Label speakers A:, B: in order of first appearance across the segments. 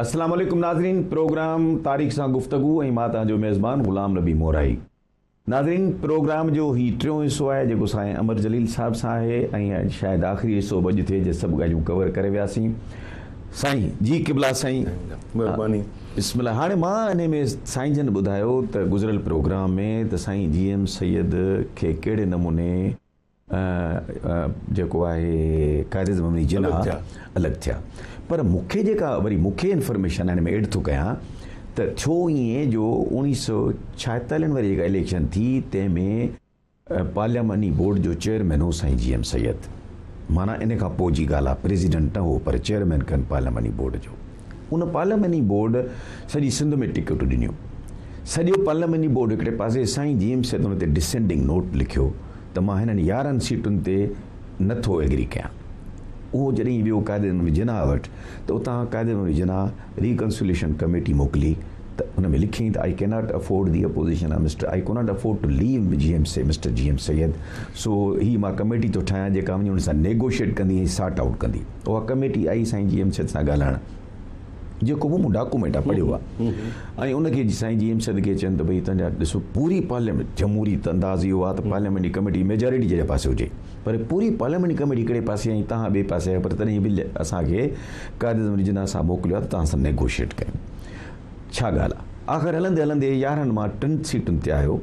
A: اسلام عليڪم ناظرين پروگرام تاريخ سان گفتگو ۽ مان تان جو ميزبان غلام نبي مورائي ناظرين پروگرام جو هي ٽيون حصو آهي جيڪو سائين امر جليل صاحب سان آهي ۽ شايد آخري حصو بج ٿئي جي سڀ ڳالهيون ڪور ڪري وياسين سائين جي قبلا سائين مهرباني
B: بسم الله هاڻي
A: مان انهي ۾ سائين جن ٻڌايو ته گذريل پروگرام ۾ ته سائين جي ايم سيد کي ڪهڙي نموني جيڪو آهي قائداعظم امين جناح الڳ ٿيا پر مون کي جيڪا وري مون کي انفارميشن هن ۾ ايڊ ٿو ڪيان ته ٿيو ائين جو اوڻيهه سؤ ڇاهيتالهن واري جيڪا اليڪشن ٿي تنهن ۾ پارلياماني بورڊ جو چيئرمين هو سائين جي ايم سيد. معنيٰ ان کان پوء جي ڳالهه آهي، پريزيڊنٽ نه هو پر چيئرمين کن پارلياماني بورڊ جو. ان پارلياماني بورڊ سڄي سنڌ ۾ ٽڪيٽون ڏنيون. سڄو پارلياماني بورڊ هڪڙي پاسي، سائين جي ايم سيد ان تي ڊسينڊنگ نوٽ لکيو ته مان هنن يارهن سيٽن تي نه ٿو ايگري ڪيان. اهو جڏهن ويو قائداعظم جناح وٽ ته اتان قائداعظم جناح. ريڪنسوليشن ڪميٽي موڪلي ته ان ۾ لکيائين ته I cannot afford the opposition of mister I cannot afford to leave G M C mister G M Syed سو هي مان ڪميٽي ٿو ٺاهيان جيڪا وڃي ان سان نيگوشيٽ ڪندي ۽ سارٽ آئوٽ ڪندي اها ڪميٽي آئي سائين جي ايم سيد سان ڳالهائڻ جيڪو به مون ڊاڪومينٽ آ پڙهيو آ ۽ ان کي سائين جي ايم سيد کي چين ته ڀئي تنهنجا ڏسو پوري پارليامينٽ جمهوري انداز اهو آ ته پارليامينٽ جي ڪميٽي ميجارٽي جي پاسي هجي پر پوري پارليامينٽ ڪميٽي هڪڙي پاسي ۽ توهان ٻئي پاسي آهيو پر تڏهن به اسان کي قائد اعظم علي جناح صاحب موڪليو آهي ته توهان سان نيگوشيٽ ڪيون ڇا ڳالهه آهي آخر هلندي هلندي يارهن مان ٽن سيٽن تي آيو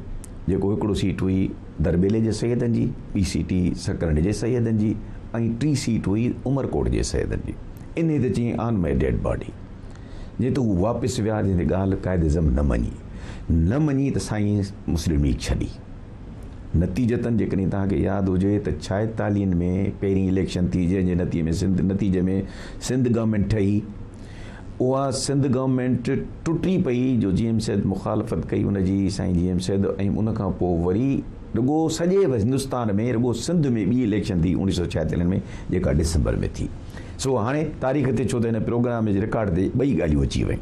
A: جيڪو هڪڙو سيٽ هئي درٻيلي جي سيدن جي ٻي سيٽ هئي سڪرنڊ جي سيدن جي ۽ ٽي سيٽ هئي عمرڪوٽ جي سيدن جي انهي تي چيائين آن ماء ڊيڊ باڊي جنهن تي هو واپس ويا جنهن تي ڳالهه قائد اعظم نه مڃي نه مڃي ته سائين مسلم ليگ ڇڏي نتيجتن جيڪڏهن توهان کي ياد هجي ته ڇائيتاليهن ۾ پهرين اليڪشن ٿي جنهن جي نتيجي ۾ سنڌ نتيجي ۾ سنڌ گورنمينٽ ٺهي اها سنڌ گورنمينٽ ٽٽي پئي جو جي ايم سيد مخالفت ڪئي ان جي سائين جي ايم سيد ۽ ان کان پوء وري رڳو سڄي هندستان ۾ رڳو سنڌ ۾ ٻي اليڪشن ٿي اوڻيهه سؤ ڇائيتاليهن ۾ جيڪا ڊسمبر ۾ ٿي سو هاڻي تاريخ تي ڇو ته هن پروگرام جي رڪارڊ تي ٻئي ڳالهيون اچي ويون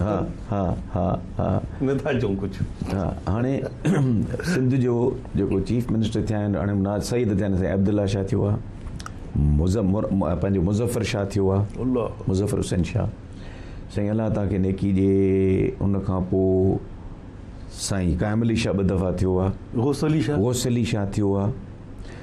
A: ها ها ها ها. نه ٿا چئون
B: ڪجهه. ها هاڻي
A: سنڌ جو جيڪو چيف منسٽر ٿيا آهن هاڻي مناز سيد ٿيا آهن سائين عبدالله شاهه ٿيو آهي مزمر پنهنجو مظفر شاهه ٿيو آهي الله مظفر حسين شاهه سائين الله تان کي نيڪي ڏي ان کان پوء سائين قائم علي شاهه ٻه دفعا ٿيو آهي غوث علي شاهه غوث علي شاهه ٿيو آهي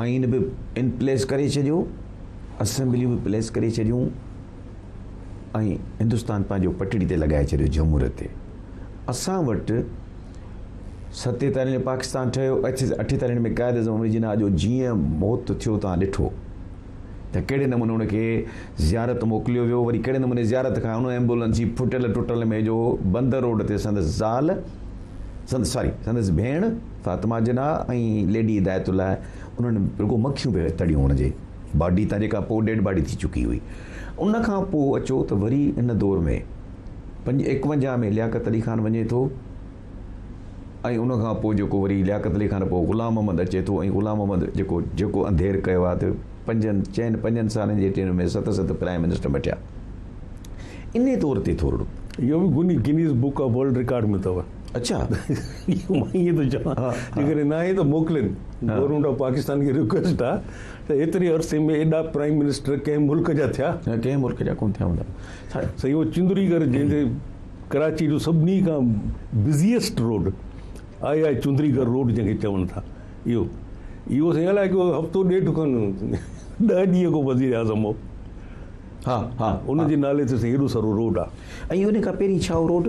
A: آئين به ان پليس ڪري ڇڏيو، اسيمبليون به پليس ڪري ڇڏيون ۽ هندستان پنهنجو پٽڙي تي لڳائي ڇڏيو جهموريت تي. اسان وٽ ستيتاليهه ۾ پاڪستان ٺهيو، اٺيتاليهه ۾ قائد اعظم امر جناح جو جيئن موت ٿيو توهان ڏٺو ته ڪهڙي نموني ان کي زيارت موڪليو ويو، وري ڪهڙي نموني زيارت کان ان ايمبولنس جي ڦٽل ٽٽل ۾ جو بندر روڊ تي سندس زال سندس ساري سندس ڀيڻ، فاطمه جناح ۽ ليڊي هدايت الله انهن رڳو مکيون پي تڙيون هن جي باڊي تان جيڪا پوء ڊيڊ باڊي ٿي چڪي هئي ان کان پوء اچو ته وري ان دور ۾ پنج ايڪونجاهه ۾ لياقت علي خان وڃي ٿو ۽ ان کان پوء جيڪو وري لياقت علي خان پوء غلام محمد اچي ٿو ۽ غلام محمد جيڪو جيڪو انڌير ڪيو آهي ته پنجن چئن پنجن سالن جي ٽينر ۾ ست ست پرائم منسٽر مٽيا انهي طور تي ٿورڙو اهو به
B: Guinness book of world record ۾ اٿو اچا
A: مان
B: ائين ٿو چوان جيڪڏهن ناهي ته موڪلين گورنمينٽ آف پاڪستان کي رڪويسٽ آ ته ايتري عرصي ۾ ايڏا پرائيم منسٽر ڪنهن ملڪ جا ٿيا ڪنهن ملڪ جا ڪون ٿيا
A: هوندا سائين هو
B: چندري گھر جنهن کي ڪراچي جو سڀني کان بزيسٽ روڊ آئي آئي چندري گھر روڊ جنهن کي چون ٿا اهو اهو سائين الائي ڪيو هفتو ڏيڍ کن ڏهه ڏينهن کو وزير اعظم هو ها
A: ها ان جي نالي
B: تي سائين هيڏو سارو روڊ آ ۽ ان کان پهرين ڇا هو
A: road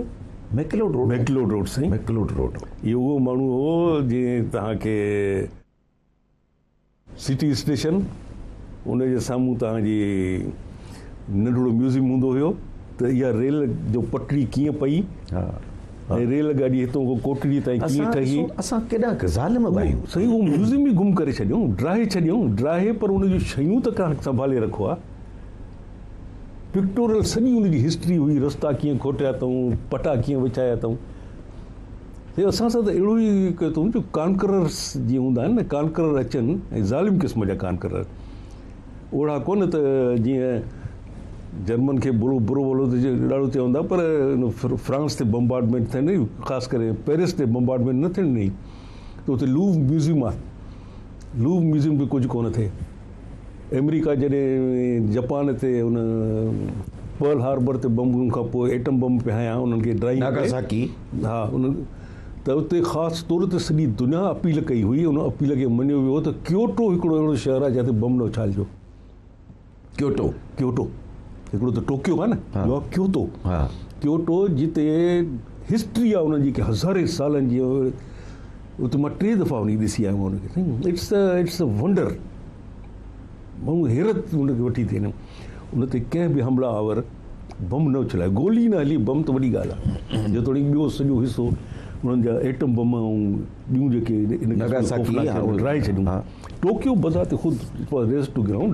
A: McLeod road McLeod road سائين ميڪلوڊ روڊ اهو اهو
B: ماڻهو هو
A: جنهن
B: توهان کي سٽي اسٽيشن ان جي سامهون توهان جي ننڍڙو ميوزيم هوندو هيو ته اها ريل جو پٽڙي ڪيئن پئي ها ۽ ريل گاڏي هتون کان ڪوٽڙي تائين ڪيئن ٺهي اسان ڪيڏا ظالم
A: آهيون سائين هو ميوزيم ئي
B: گم ڪري ڇڏيون ڊاهي ڇڏيون ڊاهي پر ان جون شيون ته ڪا سنڀالي رکو ها پڪٽورل سڄي ان جي هسٽري هئي، رستا ڪيئن کوٽيا اٿئون، پٽا ڪيئن وڇايا اٿئون. هي اسان سان ته اهڙو ئي ڪيو اٿئون جو ڪانڪررس جيئن هوندا آهن نه ڪانڪرر اچن ۽ ظالم قسم جا ڪانڪرر اهڙا ڪونه ته جيئن جرمن کي برو برو ولو ته ڏاڍو چيا هوندا پر فرانس تي بمبارڊمينٽ ٿيڻ ڏئي خاص ڪري پئرس تي بمبارڊمينٽ نه ٿيڻ ڏئي ته اتي لوو ميوزيم آهي لوو ميوزيم به ڪجهه ڪونه ٿئي. آمريڪا جڏهن جپان تي ان پرل هاربر تي بمبن کان پوء ايٽم بم پي هنيا انهن کي ڊرائي ناگاساڪي ها
A: ان
B: ته اتي خاص طور تي سڄي دنيا اپيل ڪئي هئي ان اپيل کي مڃيو ويو ته ڪيوٽو هڪڙو اهڙو شهر آهي جتي بم نه اڇالجو ڪيوٽو ڪيوٽو هڪڙو ته ٽوڪيو آهي نه ٻيو آهي ڪيوتو ڪيوٽو جتي هسٽري آهي انهن جي هزارين سالن جي هو ته مان ٽي دفعا وڃي ڏسي آيو آهيان ان کي سائين it's a it's a wonder مون حيرت ان کي وٺي ٿي ان تي ڪنهن به حمله آور بم نه اڇلائي گولي نه هلي بم ته وڏي ڳالهه آهي جيتوڻيڪ ٻيو سڄو حصو انهن جا ايٽم بم ۽ ٻيون جيڪي ڊرائي ڇڏيون ٽوڪيو بذات خود ريسٽ گرائونڊ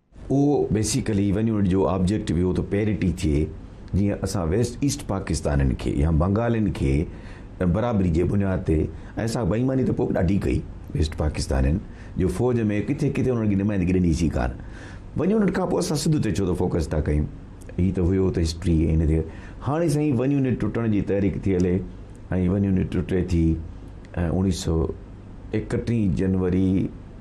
A: اهو بيسيڪلي ون يونٽ جو آبجيڪٽو اهو ته پيرٽي ٿئي جيئن اسان ويسٽ ايسٽ پاڪستانين کي يا بنگالين کي برابري جي بنياد تي ۽ اسان بيماني ته پوء به ڏاڍي ڪئي ويسٽ پاڪستانين جو فوج ۾ ڪٿي ڪٿي انهن کي نمائندگي ڏني سي ڪان ون يونٽ کان پوء اسان سنڌ تي ڇو ته فوڪس ٿا ڪيون هي ته هيو ته هسٽري هن تي هاڻي سائين ون يونٽ ٽٽڻ جي تحريڪ ٿي هلي ۽ ون يونٽ ٽٽي ٿي ۽ اڻيهه سؤ ايڪٽيهه جنوري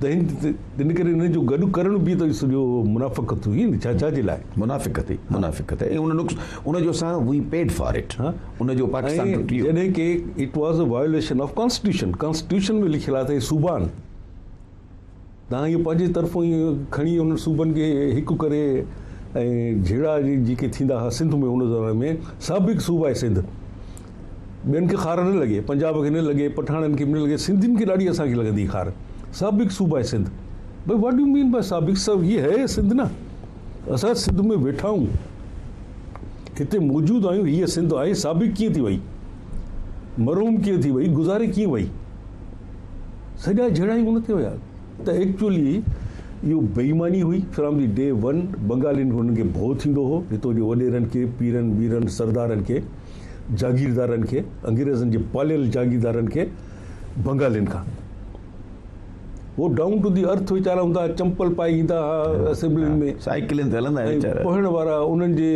B: تنهن ڪري انهن جو گڏ ڪرڻ به ته سڄو منافقت هئي نه ڇا ڇاجي لاء منافقت هئي منافقت
A: هئي ان نقص ان جو اسان وي پيڊ فار اٽ ها ان جو پاڪستان ٽٽي ويو جڏهن ڪي
B: it was a violation of constitution constitution ۾ لکيل آهي ته صوبان تان هي پنهنجي طرفون ئي کڻي ان صوبن کي هڪ ڪري ۽ جھيڙا جيڪي ٿيندا ها سنڌ ۾ ان زماني ۾ سابق صوبائي سنڌ ٻين کي خار نه لڳي پنجاب کي نه لڳي پٺاڻن کي به نه لڳي سنڌين کي ڏاڍي اسان کي لڳندي خار سابق صوبه آهي سنڌ بھي واٽ يو مين بائي سابق سو هي هي سنڌ نه اسان سنڌ ۾ ويٺا آهيون هتي موجود آهيون هي سنڌ آهي سابق ڪيئن ٿي وئي مرحوم ڪيئن ٿي وئي گذاري ڪيئن وئي سڄا جھڙا ئي ان تي ويا ته ايڪچولي اهو بيماني هئي فرام دي ڊي ون بنگالين هنن کي ڀو ٿيندو هو هتو جو وڏيرن کي پيرن ويرن سردارن کي جاگيردارن کي، انگريزن جي پاليل جاگيردارن کي بنگالين کان. هو ڊائون ٽو دي ارٿ ويچارا هوندا ها، چمپل پائي ايندا ها اسيمبلين ۾. سائيڪلين تي هلندا هيا ويچارا.
A: پوهڻ وارا انهن
B: جي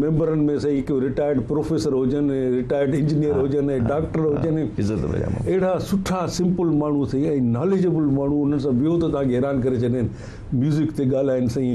B: ميمبرن ۾ سهي ڪو رٽائرڊ پروفيسر هجن، رٽائرڊ انجنيئر هجن، ڊاڪٽر هجن. عزت پجامو. اهڙا سٺا سمپل ماڻهو سهي ۽ ناليجبل ماڻهو انهن سان ويهو ته توهان کي حيران ڪري ڇڏين. ميوزڪ تي ڳالهائين سهي.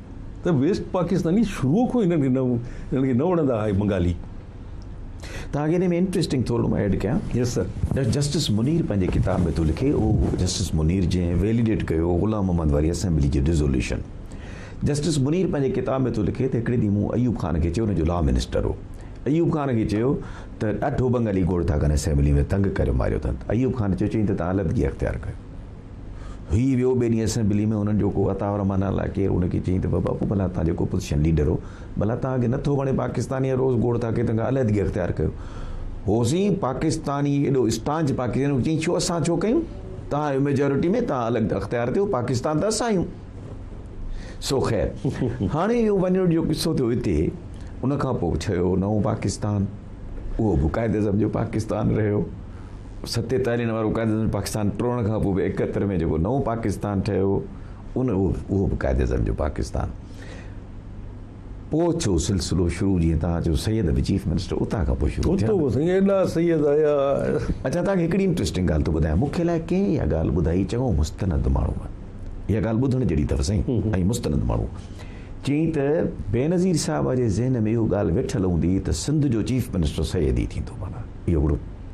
B: ته ويسٽ پاڪستاني شروع کان هنن کي نه هنن کي نه وڻندا آهي بنگالي
A: تان کي ۾ انٽريسٽنگ ٿورڙو مان ايڊ ڪيان يس سر جسٽس
B: منير پنهنجي
A: ڪتاب ۾ ٿو لکي او جسٽس منير جنهن ويليڊيٽ ڪيو غلام محمد واري اسيمبلي جي ريزوليوشن جسٽس منير پنهنجي ڪتاب ۾ ٿو لکي ته هڪڙي ڏينهن مون ايوب خان کي چيو ان جو لا منسٽر هو ايوب خان کي چيو ته ڏاڍو بنگالي گوڙ ٿا ڪن اسيمبلي ۾ تنگ ڪريو ماريو اٿن ايوب خان چيو چيئي ته تان علحدگي اختيار ڪيو هيء ويو ٻئي ڏينهن اسيمبليء ۾ هنن جو ڪو عطاء الرحمان الاء ڪير هن کي چيائين ته بابا پوء ڀلا توهان جيڪو اپوزيشن ليڊر هو ڀلا توهان کي نه ٿو وڻي پاڪستاني ۽ روز گوڙ ٿا ڪيو تنهن کان علحدگي اختيار ڪيو هوسين پاڪستاني ايڏو اسٽانچ پاڪستاني هو چيائين ڇو اسان ڇو ڪيون توهان آهيو ميجارٽي ۾ توهان الڳ اختيار ٿيو پاڪستان ته اسان آهيون سو خير هاڻي اهو وڃڻ جو قصو ٿيو هتي ان کان پوء ٺهيو نئون پاڪستان اهو به قائد اعظم جو پاڪستان رهيو ستي تي هلڻ وارو قائد اعظم پاڪستان ٽوڙڻ کان پوء به ايڪهتر ۾ جيڪو نئون پاڪستان ٺهيو ان اهو به قائد اعظم جو پاڪستان پوء ٿيو سلسلو شروع جيئن توهان چيو سيد به چيف منسٽر اتان کان پوء شروع ٿيا ايڏا سيد
B: آيا اچا توهان کي
A: هڪڙي انٽريسٽنگ ڳالهه ٿو ٻڌايان مون کي لاء ڪنهن اها ڳالهه ٻڌائي چڱو مستند ماڻهو آهي اها ڳالهه ٻڌڻ جهڙي اٿس سائين ۽ مستند ماڻهو چيائين ته بينظير صاحب جي ذهن ۾ اهو ڳالهه ويٺل هوندي ته سنڌ جو چيف منسٽر سيد ئي ٿيندو معنيٰ اهو هڪڙو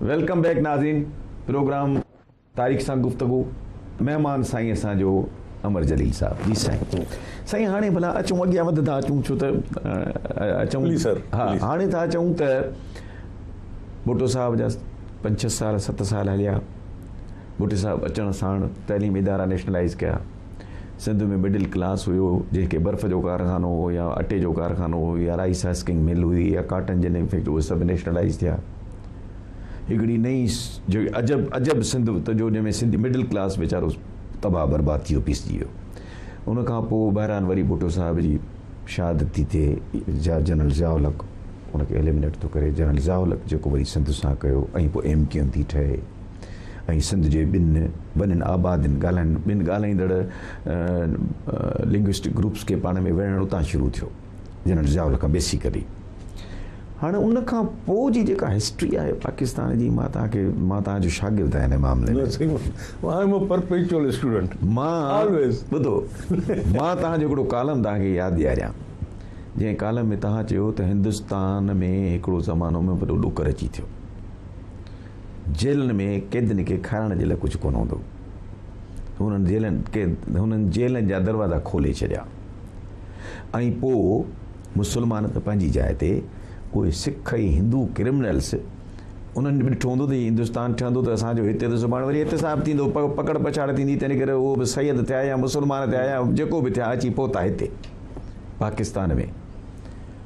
A: ويلڪم بيڪ ناظرين پروگرام تاريخ سان گفتگو مهمان سائين اسان جو امر جليل صاحب جي سائين سائين هاڻي ڀلا اچون اڳيان وڌ ٿا اچون ڇو ته اچون جي سر ها
B: هاڻي ٿا اچون
A: ته بوٽو صاحب جا پنج ڇهه سال ست سال هليا بوٽي صاحب اچڻ ساڻ تعليم ادارا نيشنلائز ڪيا سنڌ ۾ مڊل ڪلاس هيو جنهن کي برف جو ڪارخانو هو يا اٽي جو ڪارخانو هو يا رائيس هسڪنگ مل هئي يا ڪاٽن جي نيم فيڪٽري اهي سڀ نيشنلائيز ٿيا هڪڙي نئي جو عجب عجب سنڌ ته جو جنهن ۾ سنڌ مڊل ڪلاس ويچارو تباهه برباد ٿي ويو پيسجي ويو ان کان پوء بهرحال وري ڀٽو صاحب جي شهادت ٿي ٿئي جنرل ضياء الحق ان کي ايليمنيٽ ٿو ڪري جنرل ضياء الحق جيڪو وري سنڌ سان ڪيو ۽ پوء ايم ڪيو ايم ٿي ٺهي ۽ سنڌ جي ٻن وڏن آبادين ڳالهائن ٻن ڳالهائيندڙ لنگوسٽڪ گروپس کي پاڻ ۾ وڙهڻ اتان شروع ٿيو جنرل ضياء الحق بيسيڪلي هاڻي ان کان پوء جي جيڪا هسٽري آهي پاڪستان جي مان توهان کي مان توهان جو شاگرد آهيان ان معاملي ۾ I am a perpetual student مان آلويز ٻڌو مان توهان جو هڪڙو ڪالم توهان کي ياد ڏياريان جنهن ڪالم ۾ توهان چيو ته هندستان ۾ هڪڙو زمانو ۾ وڏو ڏوڪر اچي ٿيو جيلن ۾ قيدين کي کارائڻ جي لاء ڪجهه ڪونه هوندو هو. هنن جيلن قيد هنن جيلن جا دروازا کولي ڇڏيا ۽ پوء مسلمان ته پنهنجي جاء تي اهي سک ۽ هندو ڪرمنلس انهن به ڏٺو هوندو ته هي هندستان ٺهندو ته اسان جو هتي ته سڀاڻي وري احتساب ٿيندو پڪڙ پڇاڙ ٿيندي تنهن ڪري اهو به سيد ٿيا يا مسلمان ٿيا يا جيڪو به ٿيا اچي پهتا هتي پاڪستان ۾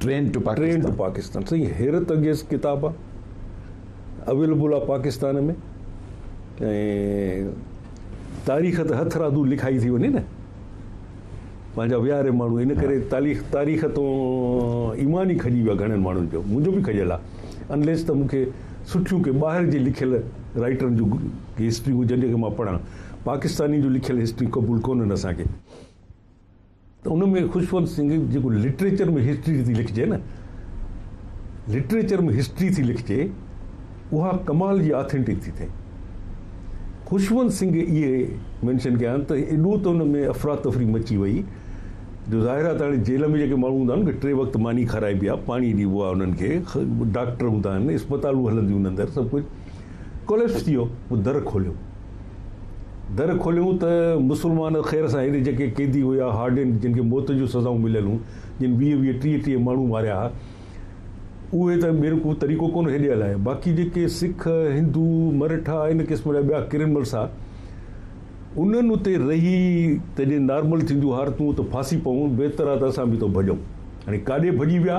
B: ٽرين ٽو پاڪستان سائين حيرت انگيز ڪتاب آ اويلبل آ پاڪستان ۾ ۽ تاريخ ته هٿ رادو لکائي ٿي وڃي نه پنهنجا وياري ماڻهو ان ڪري تاريخ تاريخ تو ايمان ئي کڄي ويا گهڻن ماڻهن جو منهنجو به کڄيل آهي انليس ته مونکي سٺيون ڪي ٻاهر جي لکيل رائٽرن جون هسٽريون جن کي مان پڙهان پاڪستاني جو لکيل هسٽري قبول ڪونهن اسان کي ته ان ۾ خوشونت سنگهه جيڪو لٽريچر ۾ هسٽري ٿي لکجي نه لٽريچر ۾ هسٽري ٿي لکجي اها ڪمال جي آٿينٽڪ ٿي ٿئي خوشونت سنگهه اهي مينشن ڪيا آهن ته ايڏو ته ان ۾ افرا تفري مچي وئي جو ظاهر آهي ته هاڻي جيل ۾ جيڪي ماڻهو هوندا آهن ڪي ٽي وقت ماني کارائبي آهي پاڻي ڏيبو آهي انهن کي ڊاڪٽر هوندا آهن اسپتالون هلنديون اندر سڀ ڪجهه ڪوليپس ٿي ويو پوء در کوليو در کوليون ته مسلمان خير سان هيڏي جيڪي قيدي هيا هارڊين جن کي موت جون سزائون مليل هون جن ويهه ويهه ٽيهه ٽيهه ماڻهو ماريا ها اهي ته ٻين ڪو طريقو ڪونه هيڏي هلايا باقي جيڪي سک هندو مرهٺا ان قسم جا ٻيا ڪرمنلس ها انهن اتي رهي ته جي نارمل ٿينديون هارتون ته ڦاسي پون بهتر آ ته اسان به اتو ڀڄون هاڻي ڪاڏي ڀڄي ويا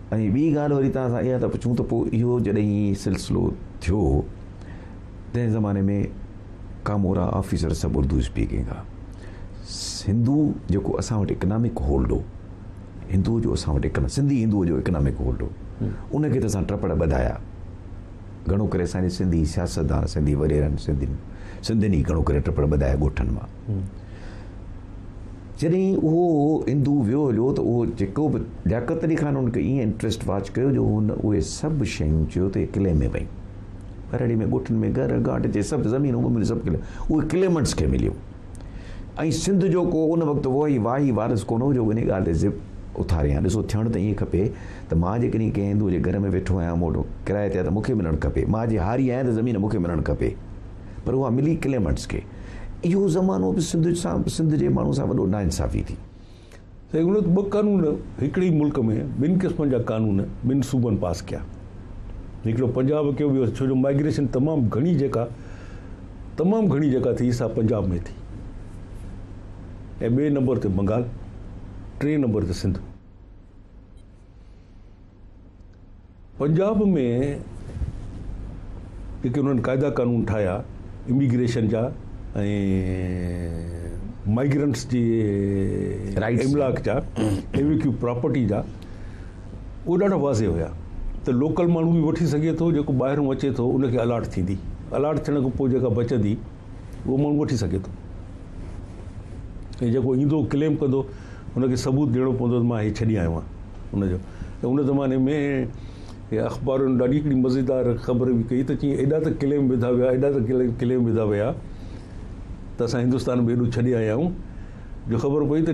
A: ۽ ٻي ڳالهه وري توهان سان اها ٿا پڇون ته پوء اهو جڏهن هي سلسلو ٿيو تنهن زماني ۾ ڪامورا آفيسر سڀ اردو اسپيڪنگ هئا هندو جيڪو اسان وٽ اڪنامڪ هولڊ هو هندو جو اسان وٽ اڪنا سنڌي هندو جو اڪنامڪ هولڊ هو ان کي ته اسان ٽپڙ ٻڌايا گھڻو ڪري اسان جي سنڌي سياستدان سنڌي وريرن سنڌين سنڌين ئي گھڻو ڪري ٽپڙ ٻڌايا ڳوٺن مان جڏهن اهو هندو ويو هليو ته اهو جيڪو به لياقت علي خان هن کي ايئن انٽريسٽ واچ ڪيو جو هن اهي سڀ شيون چيو ته اهي قلعي ۾ ويون ٻهراڙي ۾ ڳوٺن ۾ گهر گاٽ جي سڀ زمينون ومينون سڀ قلعي اهي ڪليمنٽس کي مليون ۽ سنڌ جو ڪو ان وقت وهي واهي وارث ڪونه هو جو ان ڳالهه تي ضد اٿاريان ڏسو ٿيڻ ته ائين کپي ته مان جيڪڏهن ڪنهن هندو جي گهر ۾ ويٺو آهيان مون وٽ ڪرايي تي آهي ته مون کي ملڻ کپي مان جي هاري آهيان ته زمين مون کي ملڻ کپي پر اها ملي ڪليمنٽس کي اهو زمانو به سنڌ سان سنڌ جي ماڻهن سان وڏو ناانصافي ٿي. سائين ان وقت
B: ٻه قانون هڪڙي ئي ملڪ ۾ ٻن قسمن جا قانون ٻن صوبن پاس ڪيا هڪڙو پنجاب ڪيو ويو ڇو جو مائگريشن تمام گهڻي جيڪا تمام گهڻي جيڪا ٿي سا پنجاب ۾ ٿي ۽ ٻئي نمبر تي بنگال ٽئين نمبر تي سنڌ پنجاب ۾ جيڪي انهن قاعدا قانون ٺاهيا اميگريشن جا ۽ مائگرنٽس جي املاڪ جا ايويڪيو پراپرٽي جا اهو ڏاڍا واضح هيا ته لوڪل ماڻهو به وٺي سگهي ٿو جيڪو ٻاهرون اچي ٿو ان کي الاٽ ٿيندي الاٽ ٿيڻ کان پوء جيڪا بچندي اهو ماڻهو وٺي سگهي ٿو ۽ جيڪو ايندو ڪليم ڪندو ان کي ثبوت ڏيڻو پوندو ته مان هي ڇڏي آيو آهيان ان جو ته ان زماني ۾ اخبارن ڏاڍي هڪڙي مزيدار خبر به ڪئي ته چي ايڏا ته ڪليم وڌا ويا ايڏا ته ڪليم وڌا ويا ته اسان هندستان به ايڏو ڇڏي آيا آهيون جو خبر پئي ته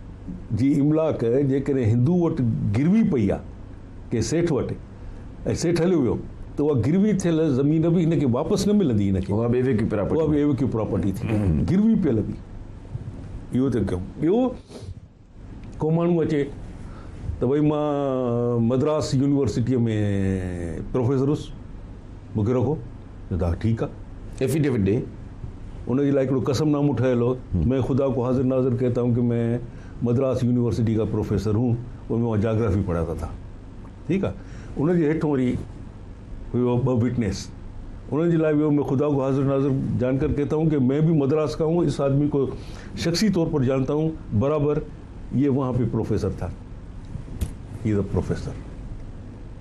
B: جي املاڪ جيڪڏهن هندو وٽ گروي پئي آ ڪنهن سيٺ وٽ ۽ سيٺ هليو ويو ته اها گروي ٿيل زمين به هن کي واپس نه ملندي هن کي اها به ايويڪيو پراپرٽي اها به ايويڪيو پراپرٽي ٿي گروي پيل به اهو ته ڪيو ٻيو ڪو ماڻهو اچي ته ڀئي مان مدراس يونيورسٽيء ۾ پروفيسر هوس مون کي رکو، چيو ته ها ٺيڪ آ. ائفيڊيوٽ ڏي،
A: ان جي لاء
B: هڪڙو قسم نامو ٺهيل هو، مين خدا ڪو حاضر ناظر ڪهتا هون ڪي مين مدراس يونيورسٽي ڪا پروفيسر هون اور مين وهان جاگرافي پڙهاتا ٿا. ٺيڪ آ. ان جي هيٺون وري هيو ٻه وٽنيس، انهن جي لاء به هيو مين خدا ڪو حاضر ناظر جانڪر ڪهتا هون ڪي مين ڀي مدراس ڪا هون، اس آدمي ڪو شخصي طور پر جانتا هون، برابر، يي وهان پي پروفيسر ٿا. He is a professor.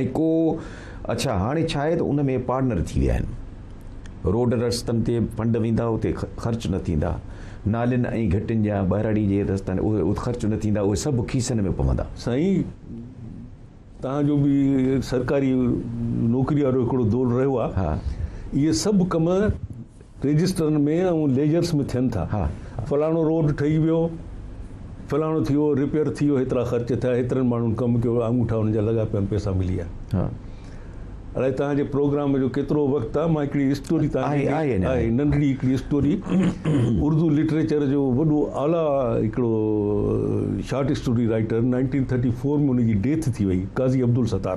B: ۽
A: ڪو اڇا هاڻي ڇا آهي ته ان ۾ پارٽنر ٿي ويا آهن. روڊ رستن تي فنڊ ويندا اتي خرچ نه ٿيندا، نالين ۽ گهٽين جا ٻهراڙي جي رستا آهن اهي خرچ نه ٿيندا اهي سڀ کيسن ۾ پوندا. سائين
B: توهان جو به سرڪاري نوڪري وارو هڪڙو دور رهيو آهي اهي
A: سڀ
B: ڪم رجسٽرن ۾ ۽ ليجرس ۾ ٿين ٿا. فلاڻو روڊ
A: ٺهي
B: ويو، فلاڻو ٿي ويو، ريپيئر ٿي ويو، هيترا خرچ ٿيا، هيترن ماڻهن ڪم ڪيو، آڱوٺا انهن جا لڳا پيا آهن، پئسا ملي ويا. اڙائي توهان جي پروگرام جو ڪيترو وقت آهي، مان هڪڙي اسٽوري توهان کي ننڍڙي هڪڙي اسٽوري اردو لٽريچر جو وڏو اعليٰ هڪڙو short story writer nineteen thirty four ۾ ان جي ڊيٿ ٿي وئي قاضي عبدالستار.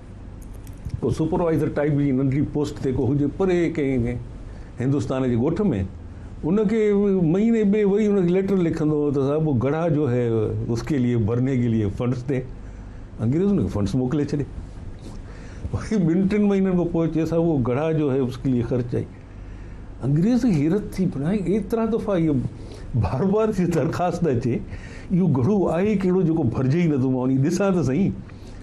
B: ڪو سپروائيزر ٽائيپ جي ننڍڙي پوسٽ تي ڪو هجي پري ڪنهن هندستان جي ڳوٺ ۾ ان کي مهيني ٻئي وري ان کي ليٽر لکندو هو ته صاحب هو گڙها جو هي اس کي ليئي ڀرني کي ليئي فنڊس ڏي انگريز ان کي فنڊس موڪلي ڇڏي وري ٻن ٽن مهينن کان پوء چي صاحب هو گڙها جو هي اس کي ليئي خرچ آئي انگريز کي حيرت ٿي بنا ايترا دفعا اهي بار بار جي درخواست اچي اهو گهڙو آهي ڪهڙو جيڪو ڀرجي ئي نٿو مان وڃي ڏسان ته سهي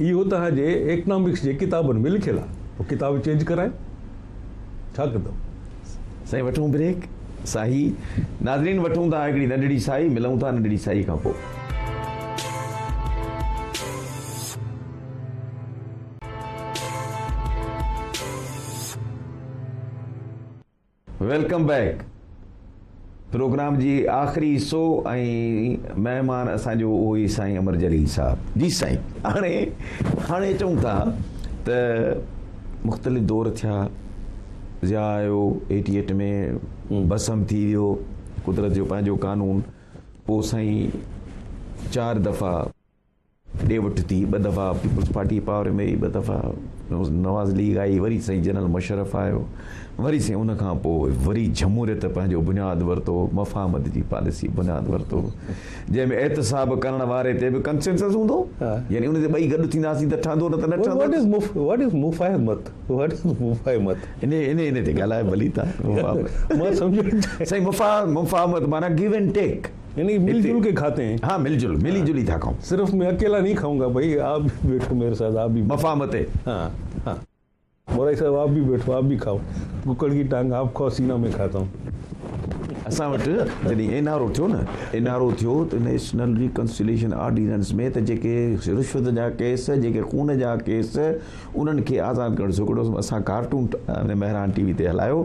B: اهو توهان جي اڪنامڪس جي ڪتابن ۾ لکيل آهي پوء ڪتاب چينج ڪرايو ڇا ڪندؤ. سائين وٺون
A: بريڪ ساهي. ناظرين وٺون ٿا هڪڙي ننڍڙي ساهي ملون ٿا ننڍڙي ساهي کان پوء. ويلڪم بيڪ پروگرام جي آخري حصو ۽ مهمان اسان جو اهو ئي سائين امر جليل صاحب جي سائين هاڻي هاڻي چون ٿا ته مختلف دور ٿيا ضياء آيو ايٽي ايٽ ۾ بسم ٿي ويو قدرت جو پنهنجو قانون پوء سائين چار دفعا ڏي وٺ ٿي ٻه دفعا پيپلز پارٽي پاور ۾ رهي ٻه دفعا نواز ليگ آئي وري سائين جنرل مشرف آيو وري سائين ان کان پوء وري جمهوريت پنهنجو بنياد ورتو مفاهمت جي پاليسي بنياد ورتو جنهن ۾ احتساب ڪرڻ واري تي به ڪنسنسس هوندو يعني ان تي ٻئي گڏ ٿينداسين ته ٺهندو نه ته نه ٺهندو وٽ از وٽ از مفاهمت وٽ از
B: مفاهمت ان ان
A: ان تي ڳالهايو ڀلي ته مفاهمت مان سمجهو
B: سائين
A: مفاهمت معنی گيو اينڊ ٽيڪ يعني مل جل ڪي
B: کاتي هين ها مل جل ملي جلي ٿا
A: کائون صرف مين اڪيلا نهي کائون
B: گا بھي آپ بي بيٺو ميري ساٿ آپ بي مفاهمت تي ها ها مورائي صاحب آپ بي بيٺو آپ بي کائو ڪڪڙ ڪي ٽانگ آپ کائو سينا مين کاتا هون اسان
A: وٽ جڏهن اين آر او ٿيو نه اين آر او ٿيو ته نيشنل ريڪنسيليشن آرڊيننس ۾ ته جيڪي رشوت جا ڪيس جيڪي خون جا ڪيس انهن کي آزاد ڪرڻ جو هڪڙو اسان ڪارٽون مهران ٽي وي تي هلايو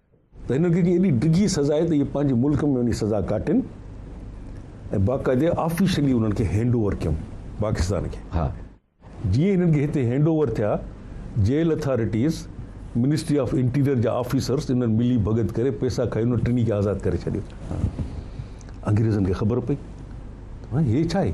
B: ته هنن کي ايڏي ڊگهي سزا آهي ته اهي پنهنجي ملڪ ۾ وڃي سزا ڪاٽين ۽ باقاعدي آفيشلي انهن کي هينڊ اوور ڪيون پاڪستان کي ها
A: جيئن ئي هنن
B: کي هتي هينڊ اوور ٿيا jail authorities ministry of interior جا آفيسرز انهن ملي ڀڳت ڪري پيسا کائي انهن ٽنهي کي آزاد ڪري ڇڏيو انگريزن کي خبر پئي هي ڇا آهي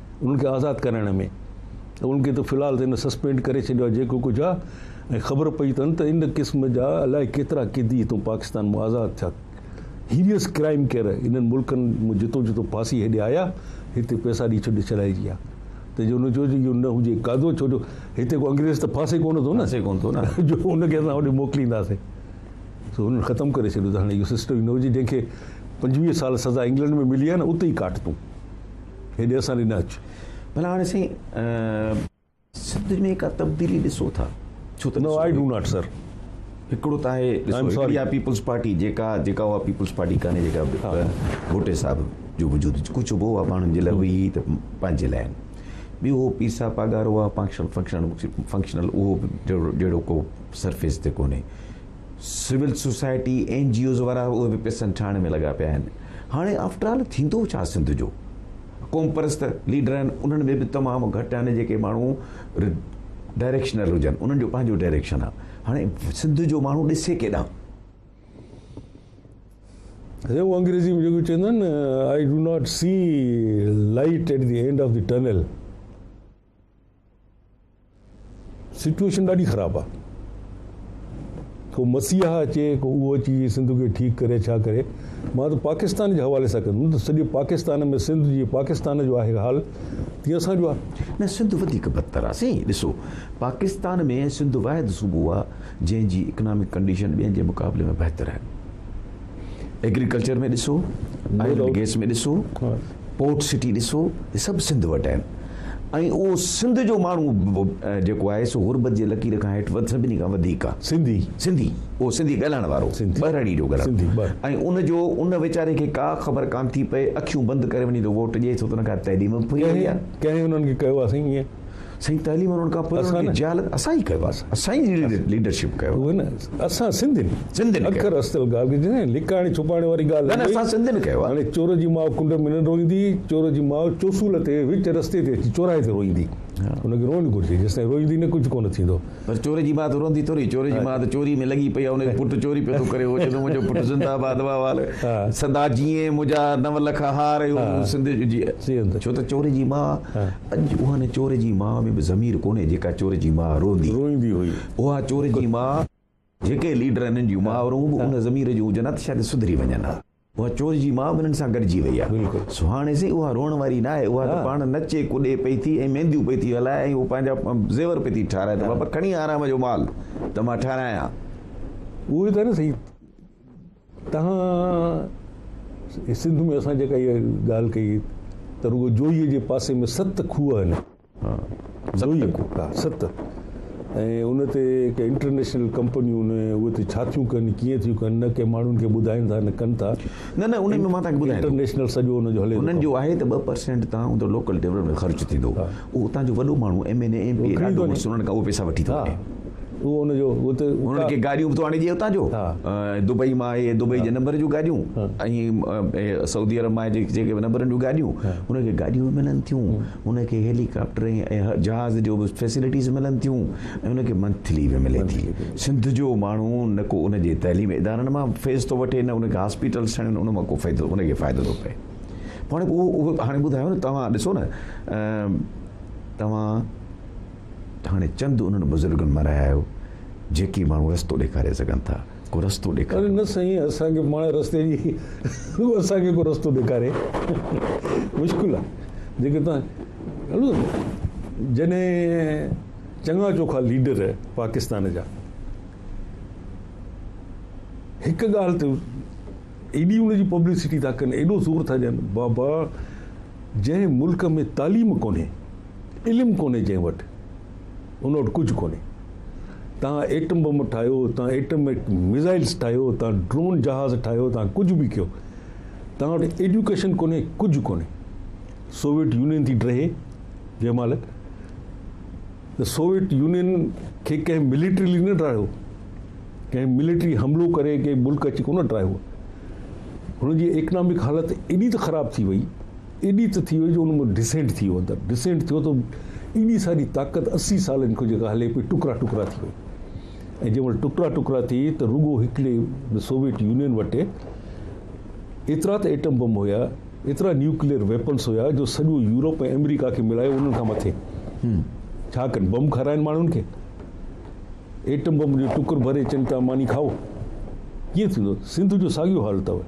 B: انهن کي آزاد ڪرائڻ ۾، ته انهن کي ته في الحال ته هن سسپينڊ ڪري ڇڏيو آهي جيڪو ڪجهه آهي ۽ خبر پئي اٿن ته ان قسم جا الائي ڪيترا قيدي هتون پاڪستان مان آزاد ٿيا Heinous Crime ڪير انهن ملڪن مان جتو جتو ڦاسي هيڏي آيا هتي پئسا ڏئي ڇڏي ڇڏائجي ها ته جو نه چئجي جو نه هجي قاعدو ڇو جو هتي ڪو انگريز ته ڦاسي ڪونه ٿو نه ڦاسي ڪونه ٿو نه جو ان کي اسان هوڏي موڪلينداسين سو هنن ختم ڪري ڇڏيو ته هاڻي اهو سسٽم ئي نه هجي جنهن کي پنجويهه سال سزا انگلنڊ ۾ ملي آهي نه اتي ئي ڪاٽ تون هيڏي اسان ڏي نه اچ. ڀلا هاڻي سائين
A: سنڌ ۾ ڪا تبديلي ڏسو ٿا ڇو ته no I do not sir
B: هڪڙو ته آهي
A: ڏسو هڪڙي آهي پيپلز پارٽي جيڪا جيڪا اها پيپلز پارٽي ڪانهي جيڪا ڀٽي صاحب جو وجود ڪجهه به هو پاڻ جي لاء هئي ته پنهنجي لاء آهن ٻيو هو پيسا پاڳارو آهي فنڪشن فنڪشن فنڪشنل اهو جهڙو جهڙو ڪو سرفيس تي ڪونهي civil society N G Os وارا اهي به پيسن ٺاهڻ ۾ لڳا پيا آهن هاڻي آفٽر آل ٿيندو ڇا سنڌ جو قوم پرست ليڊر آهن انهن ۾ به تمام گهٽ آهن جيڪي ماڻهو ڊائريڪشنل هجن انهن جو پنهنجو ڊائريڪشن آهي هاڻي سنڌ جو ماڻهو ڏسي ڪيڏانهن
B: هو انگريزي ۾ جيڪو چوندا آهن I do not see light at the end of the tunnel situation ڏاڍي خراب آ ڪو مسيحا اچي ڪو اهو اچي سنڌ کي ٺيڪ ڪري ڇا ڪري مان ته پاڪستان جي حوالي سان ڪندم ته سڄي پاڪستان ۾ سنڌ جي پاڪستان جو آهي حال تيئن اسان جو آ نه سنڌ وڌيڪ
A: بدتر آ سائين ڏسو پاڪستان ۾ سنڌ واحد صوبو آ جنهن جي اڪنامڪ ڪنڊيشن ٻين جي مقابلي ۾ بهتر آهن ايگريڪلچر ۾ ڏسو آئل ۽ گيس ۾ ڏسو پورٽ سٽي ڏسو هي سڀ سنڌ وٽ آهن ۽ اهو سنڌ جو ماڻهو جيڪو آهي سو غربت جي لڪير کان هيٺ سڀني کان وڌيڪ آهي. سنڌي. سنڌي اهو سنڌي ڳالهائڻ وارو سنڌي. ٻهراڙي جو گهر سنڌي ٻه. ۽ ان جو ان ويچاري کي ڪا خبر ڪانه ٿي پئي اکيون بند ڪري وڃي ٿو ووٽ ڏئي ڇو ته ان کان تعليم به فري ڪنهن ڪنهن انهن
B: کي ڪيو آهي سائين ائين. سائين تعليم وارن
A: کان پوء اسان جهالت اسان ئي ڪيو آهي اسان ئي ليڊرشپ ڪيو اهو نه اسان
B: سنڌين سنڌين اکر استل گاربيج نه لڪاڻي ڇپاڻي واري ڳالهه نه اسان سنڌين ڪيو آهي هاڻي
A: چور جي ماء ڪنڊ
B: ۾ نه روئيندي چور جي ماء چوسول تي وچ رستي تي اچي چوراهي تي روئيندي ان کي روئڻ گهرجي جيستائين روئيندي نه ڪجهه ڪونه ٿيندو پر چور جي ماء ته
A: روئندي ٿوري چور جي ماء ته چوري ۾ لڳي پئي آهي ان جو پٽ چوري پيو ٿو ڪري اهو چوندو منهنجو پٽ زنده آباد واهه وال سدا جيئي منهنجا نو لک هار اهو سنڌ جي ڇو ته چور جي ماء اڄ اهان چور جي ماء ۾ به ضمير ڪونهي جيڪا چور جي ماء روئندي روئندي هئي. اها
B: چور جي
A: ماء جيڪي ليڊر هنن جون مائورون به ان ضمير جون هجن ها ته شايد سڌري وڃن ها. اها چور جي ماء به هنن سان گڏجي وئي آهي. سو هاڻي سائين اها روئڻ واري ناهي اها ته پاڻ نچي ڪڏي پئي ٿي ۽ مينديون پئي ٿي هلائي ۽ اهو پنهنجا زيور پئي ٿي ٺاهرائي ته بابا کڻي آرام جو مال ته مان ٺاهرايان. اهو ئي
B: ته آهي نه سائين تنهن سنڌ ۾ اسان جيڪا اها ڳالهه ڪئي ته رڳو جوئي جي پاسي ۾ ست کوهه آهن. جوئي ست ۽ ان تي ڪي انٽرنيشنل ڪمپنيون نه اهي تي ڇا ٿيون ڪن ڪيئن ٿيون ڪن نه ڪي ماڻهن کي ٻڌائين ٿا نه ڪن ٿا. نه نه ان ۾ مان تنهن
A: کي ٻڌايان ٿو. انٽرنيشنل سڄو ان جو هلي ٿو.
B: انهن جو آهي ته ٻه پرسينٽ
A: تان ان لوڪل ڊيولپمينٽ خرچ ٿيندو. اهو اتان جو وڏو ماڻهو M N A M P A ڏاڍو مشهور انهن کان اهي پئسا وٺي ٿو وڃي. هو ان جو
B: ات انهن کي گاڏيون
A: به ٿو آڻي ڏئي اتان جو دبئي مان اهي دبئي جي نمبر جون گاڏيون ۽ سعودي عرب مان جيڪي نمبرن جون گاڏيون ان کي گاڏيون به ملن ٿيون ان کي هيلي ڪاپٽر ۽ جهاز جو به فيسلٽيز ملن ٿيون ۽ ان کي منٿلي به ملي ٿي سنڌ جو ماڻهو نه کو ان جي تعليم ادارن مان فيس ٿو وٺي نه ان کي هاسپيٽلس ٺهڻ ان مان ڪو فائدو ان کي فائدو ٿو پئي هاڻي اهو هاڻي ٻڌايو نه توهان ڏسو نه توهان ته هاڻي چند انهن بزرگن مان رهايو جيڪي ماڻهو رستو ڏيکاري سگهن ٿا ڪو رستو ڏيکاريو. نه سائين اسان کي
B: پاڻ رستي جي اسان کي ڪو رستو ڏيکاري مشڪل آهي جيڪي توهان ڏسو جڏهن چڱا چوکا ليڊر پاڪستان جا هڪ ڳالهه تي ايڏي ان جي پبلسٽي ٿا ڪن ايڏو زور ٿا ڏين بابا جنهن ملڪ ۾ تعليم ڪونهي. علم ڪونهي جنهن وٽ، ان وٽ ڪجهه ڪونهي. تان ايٽم بم ٺاهيو، تان ايٽم ميزائلز ٺاهيو، تان ڊرون جهاز ٺاهيو، تان ڪجهه به ڪيو. تان وٽ ايڊيوڪيشن ڪونهي، ڪجهه ڪونهي. سوويٽ يونين ٿي ڊهي جنهن مهل، ته سوويٽ يونين کي ڪنهن مليٽريلي نه ڊاهيو. ڪنهن مليٽري حملو ڪري ڪنهن ملڪ اچي ڪونه ڊاهيو. هن جي ايڪنامڪ حالت ايڏي ته خراب ٿي وئي، ايڏي ته ٿي وئي جو ان مان ڊسينٽ ٿي ويو اندر ڊسينٽ ٿيو ته ايڏي ساري طاقت اسي سالن کان جيڪا هلي پئي ٽڪرا ٽڪرا ٿي وئي ۽ جنهن مهل ٽڪرا ٽڪرا ٿي ته رڳو هڪڙي سوويٽ يونين وٽ ايترا ته ايٽم بم هيا ايترا نيوڪليئر ويپنس هيا جو سڄو يورپ ۽ آمريڪا کي ملايو انهن کان مٿي ڇا ڪن بم کارائن ماڻهن کي ايٽم بم جو ٽڪر ڀري چن ته ماني کائو ڪيئن ٿيندو سنڌ جو ساڳيو حال اٿو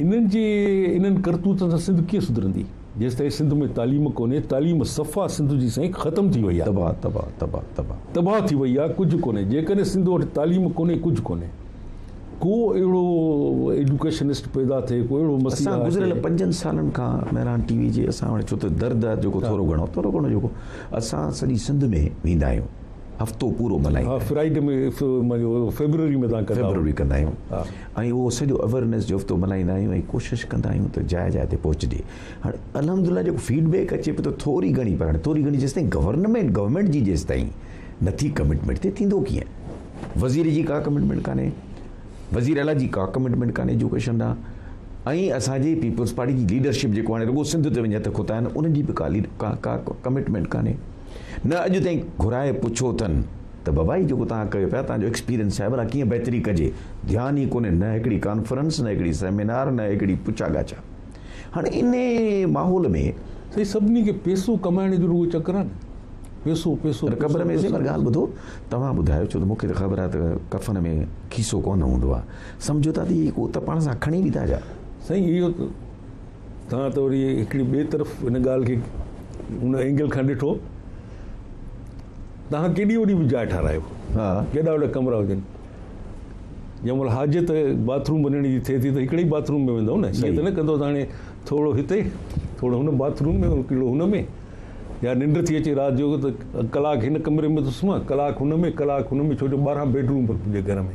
B: انهن جي انهن ڪرتوتن سان سنڌ ڪيئن سڌرندي؟ جيستائين سنڌ ۾ تعليم ڪونهي، تعليم صفا سنڌ جي سائين ختم ٿي وئي آ. تباهه تباهه تباهه تباهه تباهه ٿي وئي آ ڪجهه ڪونهي جيڪڏهن سنڌ وٽ تعليم ڪونهي ڪجهه ڪونهي ڪو اهڙو ايڊوڪيشنسٽ پيدا ٿئي ڪو اهڙو مسيحا اسان گذريل پنجن سالن
A: کان مهراڻ ٽي وي جي اسان وٽ ڇو ته درد آ جيڪو ٿورو گهڻو ٿورو گهڻو جيڪو اسان سڄي سنڌ ۾ ويندا آهيون هفتو پورو ملهائيندا آهن. فرائيڊي ۾
B: فيبروري ۾ تان ڪندا فيبروري ڪندا آهيون
A: ۽ اهو
B: سڄو
A: اويرنس جو هفتو ملهائيندا آهيون ۽ ڪوشش ڪندا آهيون ته جاء جاء تي پهچجي هاڻي الحمدلله جيڪو فيڊ بيڪ اچي پيو ته ٿوري گهڻي پر هاڻي ٿوري گهڻي جيستائين گورنمينٽ گورنمينٽ جي جيستائين نٿي ڪمٽمينٽ ٿئي ٿيندو ڪيئن وزير جي ڪا ڪمٽمينٽ ڪانهي وزير اعليٰ جي ڪا ڪمٽمينٽ ڪانهي ايجوڪيشن ڏانهن ۽ اسان جي پيپلز پارٽي جي ليڊرشپ جيڪو هاڻي رڳو سنڌ تي وڃي هٿ کتا آهن انهن جي به ڪا ڪا ڪمٽمينٽ ڪانهي نه اڄ تائين گهرائي پڇو اٿن ته بابا هي جيڪو توهان ڪيو پيا تان جو ايڪسپيرينس صاحب الا ڪيئن بهتري ڪجي ڌيان ئي ڪونهي نه هڪڙي ڪانفرنس نه هڪڙي سيمينار نه هڪڙي پڇا ڳاڇا هاڻي انهي ماحول ۾ سائين سڀني کي
B: پيسو ڪمائڻ جو رڳو چڪر آهي نه پيسو پيسو پر قبر ۾ سيمر ڳالهه
A: ٻڌو توهان ٻڌايو ڇو ته مون کي ته خبر آهي ته ڪفن ۾ کيسو ڪونه هوندو آهي سمجهو ٿا ته هي ڪو ته پاڻ سان کڻي ويندا ڇا سائين اهو ته
B: توهان ته وري هڪڙي ٻئي طرف هن ڳالهه کي ان اينگل کان ڏٺو. توهان ڪيڏي وڏي به جاء ٺارايو. ها. ڪيڏا وڏا
A: ڪمرا هجن.
B: جنهن مهل حاجت باٿ روم وڃڻ جي ٿئي ٿي ته هڪڙي ئي باٿ روم ۾ ويندؤ نه. ائين ته نه ڪندؤ ته هاڻي ٿورو هتي، ٿورو هن باٿ روم ۾ ڪيڙو هن ۾. يا ننڊ ٿي اچي رات جو ته ڪلاڪ هن ڪمري ۾ ٿو سمهان، ڪلاڪ هن ۾، ڪلاڪ هن ۾ ڇو جو ٻارهن بيڊ روم پڻ پنهنجي گهر ۾.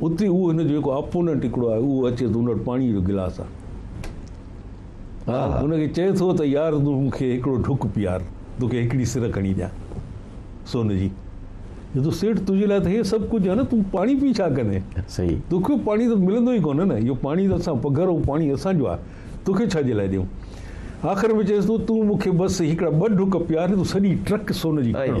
B: اتي اهو هن جو جيڪو اپوننٽ هڪڙو آهي اهو اچي ٿو ان وٽ پاڻي جو گلاس آهي ان کي چئي ٿو ته يار تون مون کي هڪڙو ڍڪ پيار توکي هڪڙي سر کڻي ڏيان سون جي جو سيٺ تنهنجي لاء ته هي سڀ ڪجهه آهي نه تون پاڻي پي ڇا ڪندين صحيح توکي پاڻي ته ملندو ئي ڪونه نه اهو پاڻي ته اسان پگهر اهو پاڻي اسان جو آهي توکي ڇا جي لاء ڏيون آخر ۾ چيس ٿو تون مون کي بس هڪڙا ٻه ڍڪ پيار تون سڄي ٽرڪ سون جي کڻ